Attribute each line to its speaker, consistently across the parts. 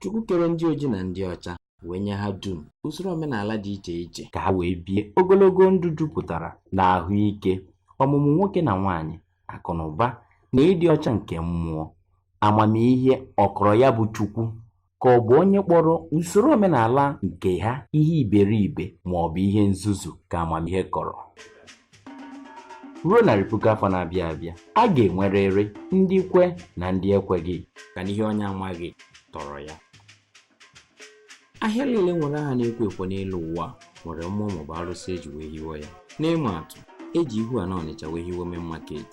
Speaker 1: Chukwu kere ndị oji na ndị ọcha wee nye ha dum usoro omenala dị iche iche ka ha wee bie ogologo ndụ jupụtara na ahụike ọmụmụ nwoke na nwaanyị akụ na ụba na ịdị ọcha nke mmụọ amamihe ọ kọrọ ya bụ Chukwu ka ọ bụ onye kpọrọ usoro omenala nke ha ihe iberibe ma ọ bụ ihe nzuzu ka amamihe kọrọ ruo narị puku afọ na-abịa abịa a ga-enwerịrị ndị kwe na ndị ekweghị ka n'ihe onye amaghị tọrọ ya ahịa niile nwere aha na-ekwo ekwo n'elu ụwa nwere mmụọ maọbụ arụsị eji wee hiwe ya n'ịma atụ eji ihu ana ọnịcha wee hiwe main market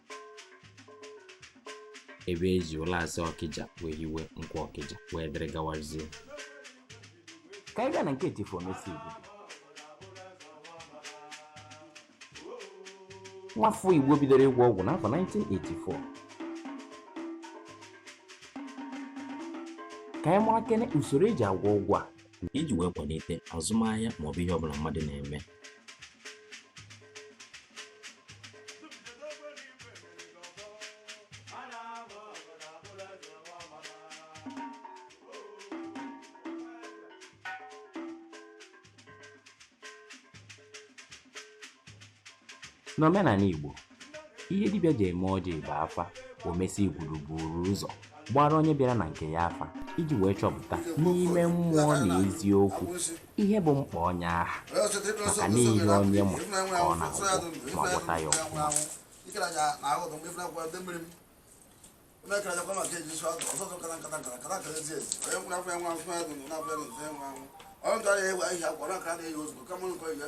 Speaker 1: ebe eji ụlasị ọkịja wee hiwe nkwọ ọkịja wee dịrị gawazie ka anyị gaa na nke chifu omesi igbo nwafọ igbo bidoro ịgwọ ọgwụ n'afọ 1984 ka anyị marakene usoro eji agwọ ọgwụ a iji wee kwalite azụmahịa maọbụ ihe ọbụla mmadụ na-eme N'omenala Igbo, ihe dibịa ji eme ọjị bụ afa omesi igwuru buru ụzọ gbara onye bịara na nke ya afa iji wee chọpụta n'ime mmụọ na eziokwu ihe bụ mkpa onye aha maka na ihe onye ma ka ọ na-agwọ ma gwọta ya ọfụma ọ gara ewe ahịhịa gwara ka a na-eyi ozugbo kama nkọ ihe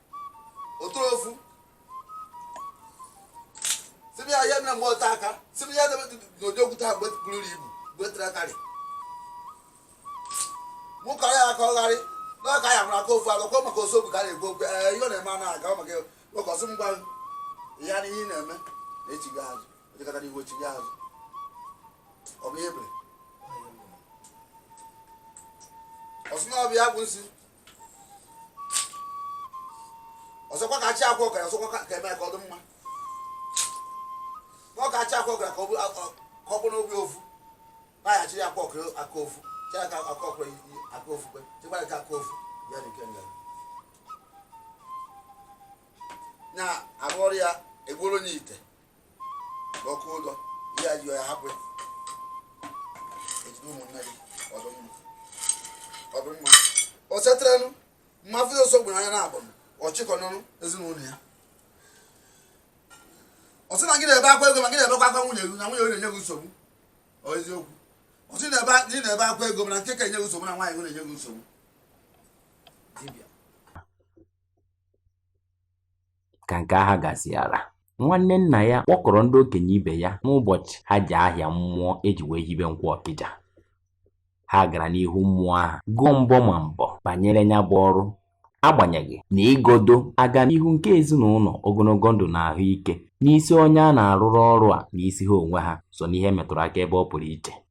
Speaker 1: otoro ofu sịbịa ya mere mgbe ọta aka sịbịa ya debe n'ụdị okwute ha buru ibu gbetere akarị mụ kọrọ ya aka ọgharị n'ọka ya mụrụ aka ofu agakọ maka osobu ka a na-egbu okwu ee ihe ọ na-eme anaghị aga maka ụkọsị m gwa ya na ihe ị na-eme na-echighị azụ ojekọta n'ihu ochighị azụ ọ bụ ihe ebere ọsụ na ọbịa bụ nsi ọzọkwa ka achị akwa ọkara ọzọkwa ka eme ka ọ dị mma ọ ka achị akwa ọkara ka ọ bụ n'obi ofu naghachiri akwa ọkara aka ofu chịa aka aka ọkara aka ofu kwe chịkwara ka aka ofu ya na nke nga na-arụ ọrụ ya egbuoro n'ite ọkụ ụdọ ihe a ji ya hapụ ya ejide ụmụnne gị ọ dụ mma ọ dụ mma o setịrịnụ mma fụzi ọsọ gburu anya na-abụ ọchịkọ n'ọnụ ezinụlọ ya ọ sị na gị na-ebe akwa ego ma gị na-ebekwa akwa nwunye gị na nwunye gị na-enye gị nsogbu ọ eziokwu ọ sị na ebe a- na ị na-ebe akwa ego mana nke ka enye gị nsogbu na nwaanyị gị na-enye gị nsogbu ka nke ahụ gasịara nwanne nna ya kpọkọrọ ndị okenye ibe ya n'ụbọchị ha ji ahịa mmụọ e ji wee hibe nkwọ ọkịja ha gara n'ihu mmụọ ahụ gụọ mbọ ma mbọ banyere ya bụ ọrụ agbanyeghị na ịgodo agamnihu nke ezinụlọ ogologo ndụ na ahụike n'isi onye a na-arụrụ ọrụ a n'isi ha onwe ha so n'ihe metụrụ aka ebe ọ pụrụ iche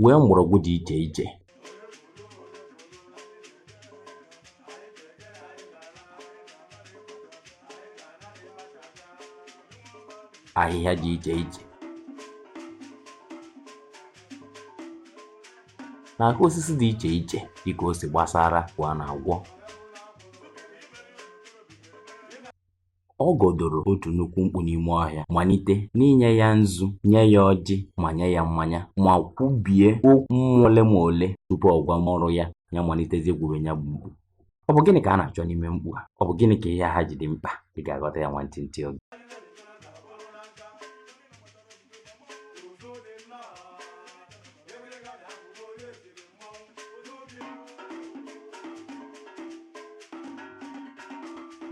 Speaker 1: nwee mgbọrọgwụ dị iche iche ahịhịa dị iche iche na aka osisi dị iche iche dịka o si gbasara kwa na-agwọ ọ gọdoro otu nnukwu mkpu n'ime ọhịa malite n'inye ya nzu nye ya ọjị ma nye ya mmanya ma kwubie okwu mmụọ ole ma ole tupu ọ gwa nwa ọrụ ya ya malitezie gwube ya bụ mkpu ọ bụ gịnị ka a na-achọ n'ime mkpu a ọ bụ gịnị ka ihe ha ji dị mkpa ị ga-aghọta ya nwantịntị oge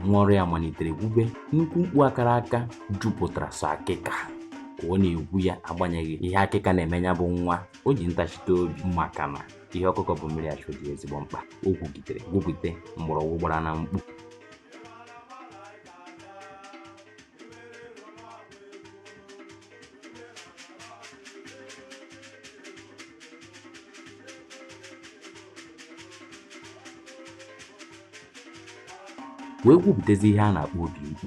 Speaker 1: nwa ọrụ ya malitere gwube nnukwu mkpu a kara aka jupụtara sọ akịka ka ọ na-egwu ya agbanyeghị ihe akịka na-eme ya bụ nwa o ji ntachite obi maka na ihe ọkụkọ bu mmiri achụ dị ya ezigbo mkpa o gwugidere gwupụte mgbọrọgwụ gbara na mkpu wee gwupụtezi ihe a na-akpọ obi mkpu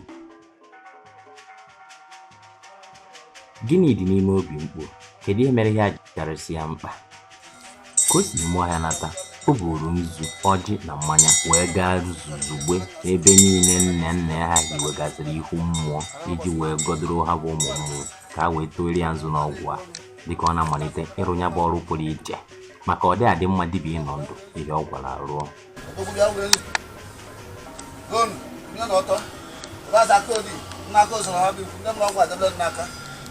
Speaker 1: gịnị dị n'ime obi mkpu kedu ihe mere ihe a ji karịsịa mkpa Ka o si ime ọhịa nata, o buuru nzu, ọjị na mmanya wee gaa zuzugbe ebe niile nne nne ha hiwegasịrị ihu mmụọ iji wee gọdoro ha bụ ụmụ mmụọ ka ha wee tụọrọ ya nzu n'ọgwụ a dịka ọ na-amalite ịrụ ya bụ ọrụ pụrụ iche maka ọ dị adị mma dibịa ịnọ ndụ ihe ọ gwọrọ arụọ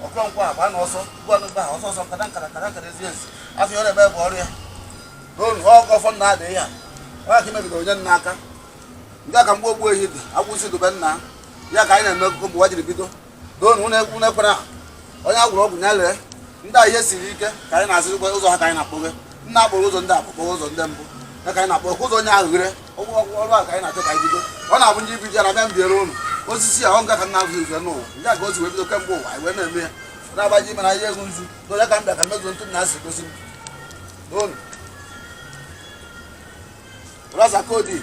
Speaker 1: ọkụrọnkwa agba na ọsọ gwanụgba ha ọsọ ọsọ nkata nkata nkata nkata ezi ezi afọ ọrịa ebe bụ ọrịa n'olu ọgụ ọfọ nna adịghị ya nwa ka imegide onye nna aka nke ka mgbe ogbu ehi dị akwụsị dobe nna ya ka anyị na-eme ụmụ nwa jiri bido doonu unu ekwu n'ekwere ahụ onye agwụrụ ọgwụ ya lee ndị a ihe siri ike ka anyị na-azịrịkwa ụzọ ha ka anyị na-akpọghe nna akpọrọ ụzọ ndị akpụkpọ ụzọ ndị mbụ ya ka anyị na-akpọ ụzọ onye ahụ ghere ọgwụ ọgwụ ọrụ a ka anyị na-achọ ka anyị bido ọ na-abụ ndị ibido ya na bịa mbiere ụnụ osisi a ọ nga ka nna azụ ife n'ụwa ya ka o si wee bido kemgbe ụwa anyị wee na-eme ya na-agbaji ime na ihe egwu nzu na onye ka m bịa ka mezuo ntụ na asị gosi m n'ụnụ rasa kodi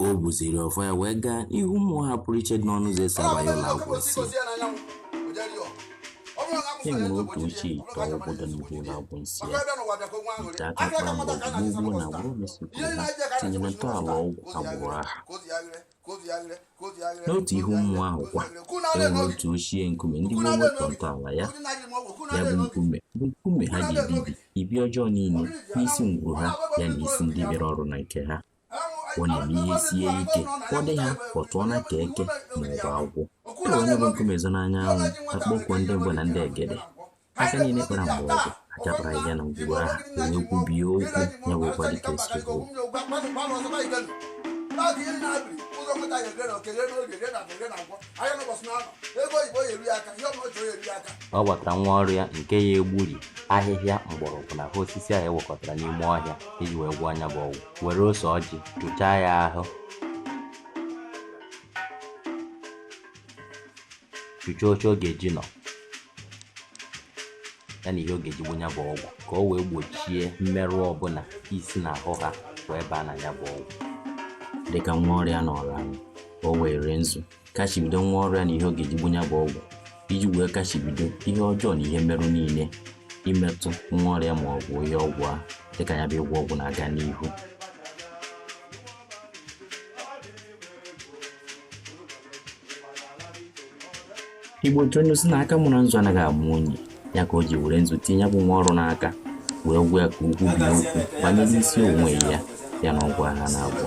Speaker 1: o buziri ọfọ ya wee gaa n'ihu mmụọ ha pụrụ iche dị n'ọnụ ụzọ esi abanye ụlọ agwụ nsị e nwere otu ochie ite ọgwụ dị n'ihu ụlọ agwụ nsị ya ite aka kpara mgbe n'ugbo na agbụrụ mesịrị ha tinyere ntọala ọgwụ agbụrụ ha n'otu ihu mmụọ ahụ kwa e nwere otu ochie nkume ndị gboo wepụ ntọala ya ya bụ nkume bụ nkume ha ji ebibi ibi ọjọọ niile n'isi ngwuru ha ya na isi ndị bịara ọrụ na nke ha ọ na-eme ihe sie ike ọ dị ha pọtụọ na ka eke ma ọ bụ agwọ e were nya bụ nkume zo n'anya anwụ akpọkuo ndị mbụ na ndị egede aka niile kpara mgbe ọgwụ achapụra ya na ngwugwu aha e wee kwubie okwu ya bụ ụkwa dịka esi bụ ọ gwatara nwa ọrụ ya nke ya egburi ahịhịa mgbọrọgwụ na ahụ osisi e wekọtara n'ime ọhịa iji wee gwọọ nya bụ ọgwụ were ose ọjị chụchaa ya ahụ chụchaa oche ọ ga-eji nọ ya na ihe ọ ga-eji gwọ nya bụ ọgwụ ka o wee gbochie mmerụ ọbụla isi na ahụ ha wee baa na ya bụ ọgwụ dịka nwa ọrịa nọrọ anyị ka o wee were nzu kachibido nwa ọrụ ya na ihe ọ ga-eji gwọ nya bụ ọgwụ iji wee kachibido ihe ọjọọ na ihe mmerụ niile imetụ nwa ọrịa ma ọ bụ ihe ọgwụ a dịka ya bụ ịgwọ ọgwụ na-aga n'ihu igbo otu onye si na aka mụrụ nzu anaghị amụ onye ya ka o ji were nzu tinye ya bụ nwa ọrụ n'aka wee gwa ya ka o kwubie okwu banyere isi onwe ya ya na ọgwụ ha na-agwọ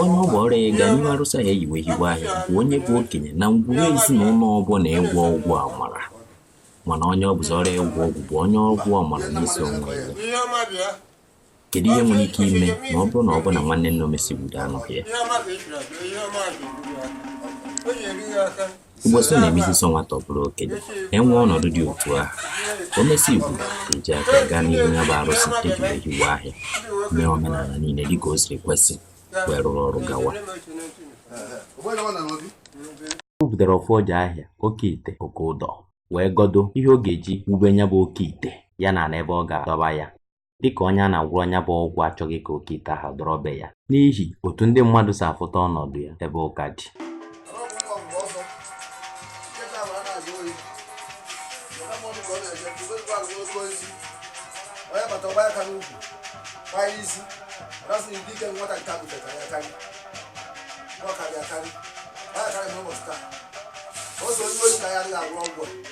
Speaker 1: onye ọ bụ ọrụ ya ịga n'ihu arụsị ahụ eyiwe hiwe ahịa bụ onye bụ okenye na ngwuru ezinụlọ ọ bụ na ịgwọ ọgwụ amara mana onye ọ bụzi ọrụ ịgwọ ọgwụ bụ onye agwụ mara n'isi onwe ya kedu ihe nwere ike ime ma ọ bụrụ na ọ bụ na nwanne nne omesi gbudo anụ ya Igbo sị na-ebizi sọ nwata ọ bụrụ okenye enwee ọnọdụ dị otu ahụ o mesi igbo eji aka gaa n'ihu ya bụ arụsị eji wee hiwe ahịa mee omenala niile dịka o siri kwesị wee rụrụ ọrụ gawa o butere ọfọ ọja ahịa oke ite oke ụdọ wee gọdo ihe ọ ga-eji wube ya bụ oke ite ya na ala ebe ọ ga-adọba ya dịka onye a na-agwọrọ ya bụ ọgwụ achọghị ka oke ite ahụ dọrọ be ya n'ihi otu ndị mmadụ si afụta ọnọdụ ya ebe ụka dị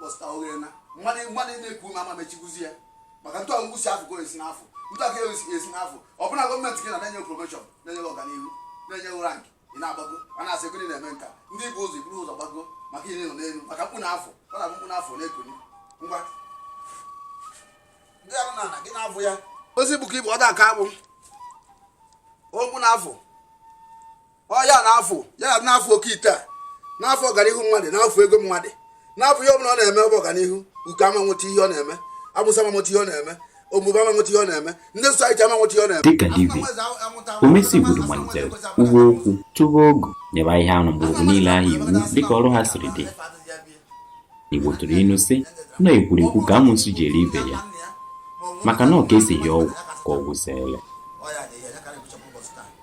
Speaker 1: bọsta oghere na mmadụ mmadụ na-ekwu ma ama mechikwuzi ya maka ntụ ọgụgụ si afọ ka esi n'afọ ntụ aka esi n'afọ ọ bụla gọọmenti gị na na-enye promoshọn na-enye ọganihu na-enye rank ị na-agbago a na-asị gịnị na-eme nka ndị bu ụzọ i buru ụzọ gbago maka ihe nọ n'elu maka mkpụ na afọ ọ na-abụ mkpụ na afọ na-ekuni ngwa ndị ahụ na gị na-abụ ya ozi bụ ka ịbụ ọ da aka agbụ okwu na afọ ọ ya na-afụ ya na na-afụ oke ite a na-afụ ọganihu mmadụ na-afụ ego mmadụ na-afụ ihe ọbụla ọ na-eme bụ ọganihu uke ama nweta ihe ọ na-eme amụsụ ama nweta ihe ọ na-eme omume ama nweta ihe ọ na-eme ndị sosaiti ama nweta ihe ọ na-eme dịka dibịa omesi gburu malitere kwuwe okwu tụwa ogu nyebe ahịhịa na mgbọrọgwụ niile ahụ iwu dịka ọrụ ha siri dị igbo tụrụ ilu sị na ekwuru ekwu ka amụsụ ji eri ibe ya maka na ọ ka esighị ọgwụ ka ọgwụ si ele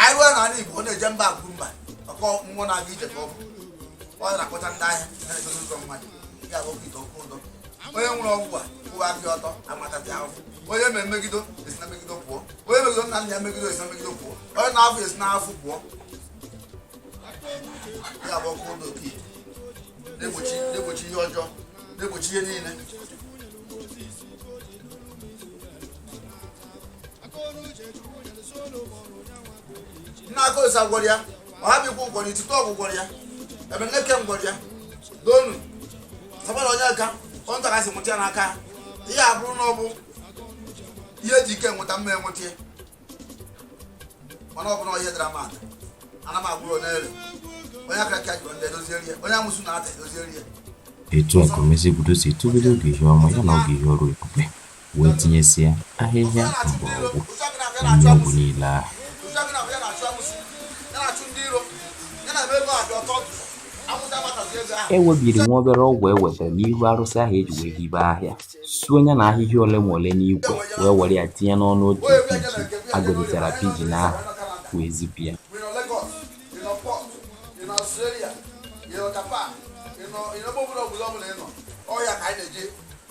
Speaker 1: anyị ruo n'ala Igbo ọ na-eje mba akwuru mba oke mmụọ na-aga ije ka ọ bụ ọ na-akpọta ndị ahịa na-edozi ụzọ mmadụ ya bụ oke ite oke ụdọ onye nwere ọgwụ a kwụwa aka ọtọ amatazi ahụhụ onye ma emegido esi na megido pụọ onye megido nna nna ya megido esi na megido pụọ onye na-afụ esi na afụ pụọ ya bụ oke ụdọ oke na-egbochi na-egbochi ihe ọjọọ na-egbochi ihe niile nna akosa gwọrọ ya ọhabikwu gwọrọ itite ọgwụ gwọrọ ya ebeneke gwọrọ ya donu sabara onye ka ọnta kasị mụta ya n'aka ihe a bụrụ na ọ bụ ihe eji ike nweta m ma enweta ya mana ọ bụrụ ihe dara mmadụ ana m agwọrọ onye ere onye aka ka jụrụ ndị edoziere ya onye amụsụ na-ata edoziere ya etu a ka omezi obodo si etogide oge ihe ọma ya na oge ihe ọrụ ebube wee tinyesịa ahịhịa mgbọrọgwụ na nri ọgwụ niile ahụ. E webiri nwa obere ọgwụ e wetara n'ihu arụsị ahụ e ji wee hibe ahịa, suo ya na ahịhịa ole ma ole n'ikwe wee were ya tinye n'ọnụ otu pijin a gọzitara pijin ahụ wee zipụ ya.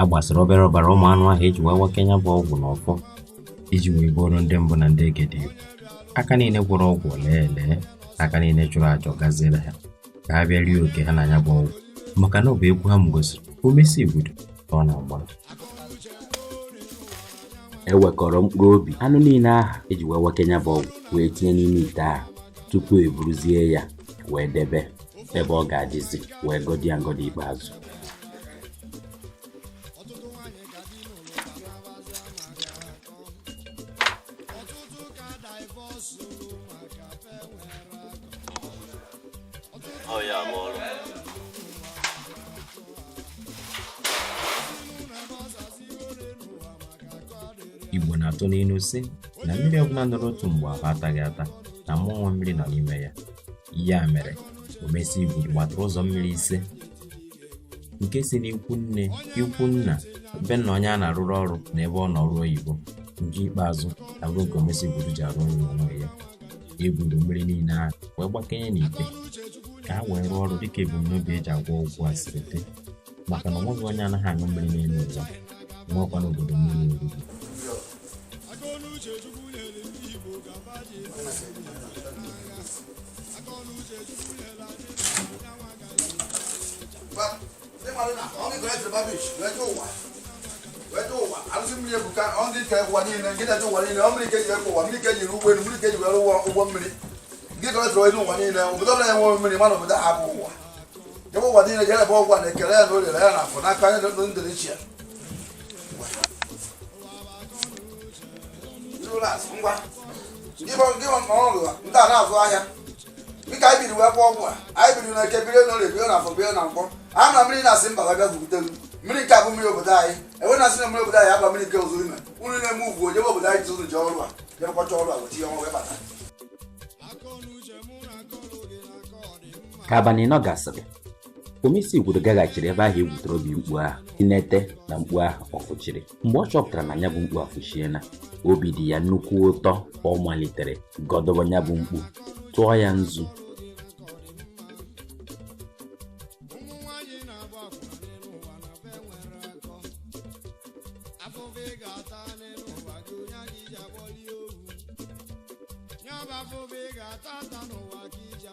Speaker 1: a gbasara obere ọbara ụmụ anụ ahụ eji wee wake ya bụ ọgwụ na ọfọ iji wee bọọrọ ndị mbụ na ndị egede aka niile gwọrọ ọgwụ o lee ele aka niile chụrụ aja ọ gaziere ha ka ha bịa rie oke ha na ya bụ ọgwụ maka na ọ bụ egwu ha m gosiri omesi igbudu ka ọ na-agba e wekọrọ mkpụrụ obi anụ niile ahụ eji wee wake ya bụ ọgwụ wee tinye n'ime ite ahụ tupu e buruzie ya wee debe ebe ọ ga-adịzi wee gọzie ya ngọzi ikpeazụ ọtụtụ nwaanyị ka di n'ụlọ ka na-abaza maka akọ ọtụtụ ka divọs olu maka fe nwere akọ Ọ ya bụ ọrụ. igbo na-atụ n'ilu si na mmiri ọbụla nọrọ otu mgbe ahụ ataghị ata na mmụọ mmiri nọ n'ime ya ya mere omesi igbudu gbatara ụzọ mmiri ise nke si n'ikwu nne ikwu nna be nna onye a na-arụrụ ọrụ na ebe ọ nọ ọrụ oyibo nke ikpeazụ abụrụ nke Omesi Igbudu ji arụ ọrụ n'onwe ya e buru mmiri niile ahụ wee gbakọnye n'ite ka ha wee rụọ ọrụ dịka ebumnobi eji agwọ ọgwụ a siri dị maka na ọ nweghị onye anaghị aṅụ mmiri n'elu ụwa nwekwanụ obodo mmiri erurọ ụwa niile jere ebe ọgwụ a na eke lee ya na orie lee ya na afọ n'aka anya ndị ichie ndị a na-azụ ahịa dịka anyị siri wee gwọọ ọgwụ a anyị biri na eke biri na orie bie na afọ bie na nkwọ a na mmiri na-asị mba ga bịazute m mmiri nke abụ mmiri obodo anyị enwe na asị na mmiri obodo anyị agba mmiri nke ụzọ ime unu na-eme ugwu ojebe obodo anyị tụrụ ji ọrụ a bịakwacha ọrụ a wechi ya ọnwa wee bata ka abalị nọ gasịrị omesi igwuru gaghachiri ebe ahụ e gwutere obi mkpu ahụ inete na mkpu ahụ ọ fụchiri mgbe ọ chọpụtara na ya bụ mkpu afụchiela obi dị ya nnukwu ụtọ ọ malitere gọdobe ya bụ mkpu tụọ ya nzu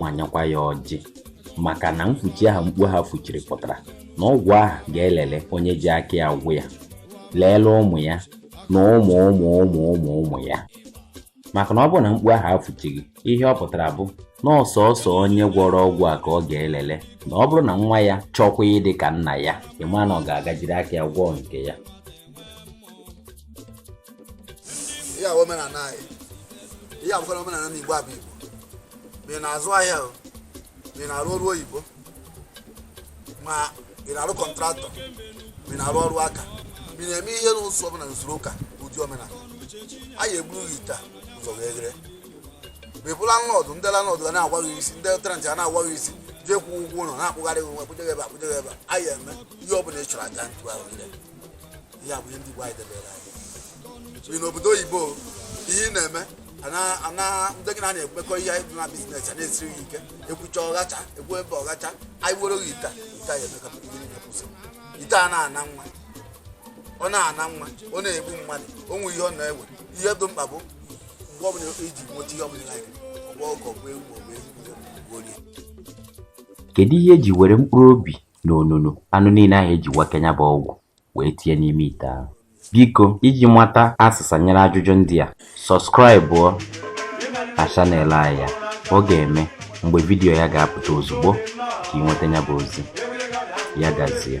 Speaker 1: ma nyekwa ya ọjị maka na mfuchi ahụ mkpu ahụ fuchiri pụtara na ọgwụ ahụ ga-elele onye ji aka ya gwọ ya leele ụmụ ya na ụmụ ụmụ ụmụ ụmụ ụmụ ya maka na ọ bụrụ na mkpu ahụ afuchighị ihe ọ pụtara bụ na ọ sọsọ onye gwọrọ ọgwụ a ka ọ ga-elele na ọ bụrụ na nwa ya chọkwa ịdị ka nna ya ị ma na ọ ga-aga jiri aka ya gwọọ nke ya ihe a omenala anyị ihe a bụkwara omenala n'igbo abụ igbo ma ị na-azụ ahịa o ma ị na-arụ ọrụ oyibo ma ị na-arụ kọntraktọ ma ị na-arụ ọrụ aka ma ị na-eme ihe n'ụzọ ọbụla n'usoro ụka ụdị omenala anyị egburu gị ite a ụzọ wee ghere ma ị bụ landlord ndị landlord ga na-agwa gị sị ndị tenant ga na-agwa gị sị jee kwụọ ụgwọ ụlọ na-akpụgharị gị nwa kpụjegebe akpụjegebe anyị eme ihe ọbụla ị chọrọ aja ntụ ahụ niile ya bụ ihe ndị Igbo anyị debere anyị bi n'obodo oyibo ihe ị na-eme ana- ana adịghị na na-ekwekọ ihe anyị dị na biznes a na-esiri gị ike ekwucha ọghacha ekwu ebe ọghacha anyị were gị ite a, ite a ya eme ka ihe niile kwụsị ite a na-ana nwa ọ na-ana nwa ọ na-egbu mmadụ o nwere ihe ọ na-ewe ihe dị mkpa bụ mgbe ọbụla ị ji nweta ihe ọbụla like ọ bụ ọkụkọ ọ bụ ewu ma ọ bụ ewu ma ọ bụ orie kedu ihe e ji were mkpụrụ obi n'onunu anụ niile ahụ e ji gwakọ ya bụ ọgwụ wee tinye n'ime ite ahụ biko iji mata azịza nyere ajụjụ ndị a sọbskraịbụọ na chanel anyị ya ọ ga-eme mgbe vidiyo ya ga-apụta ozugbo ka ị nweta ya bụ ozi ya gazie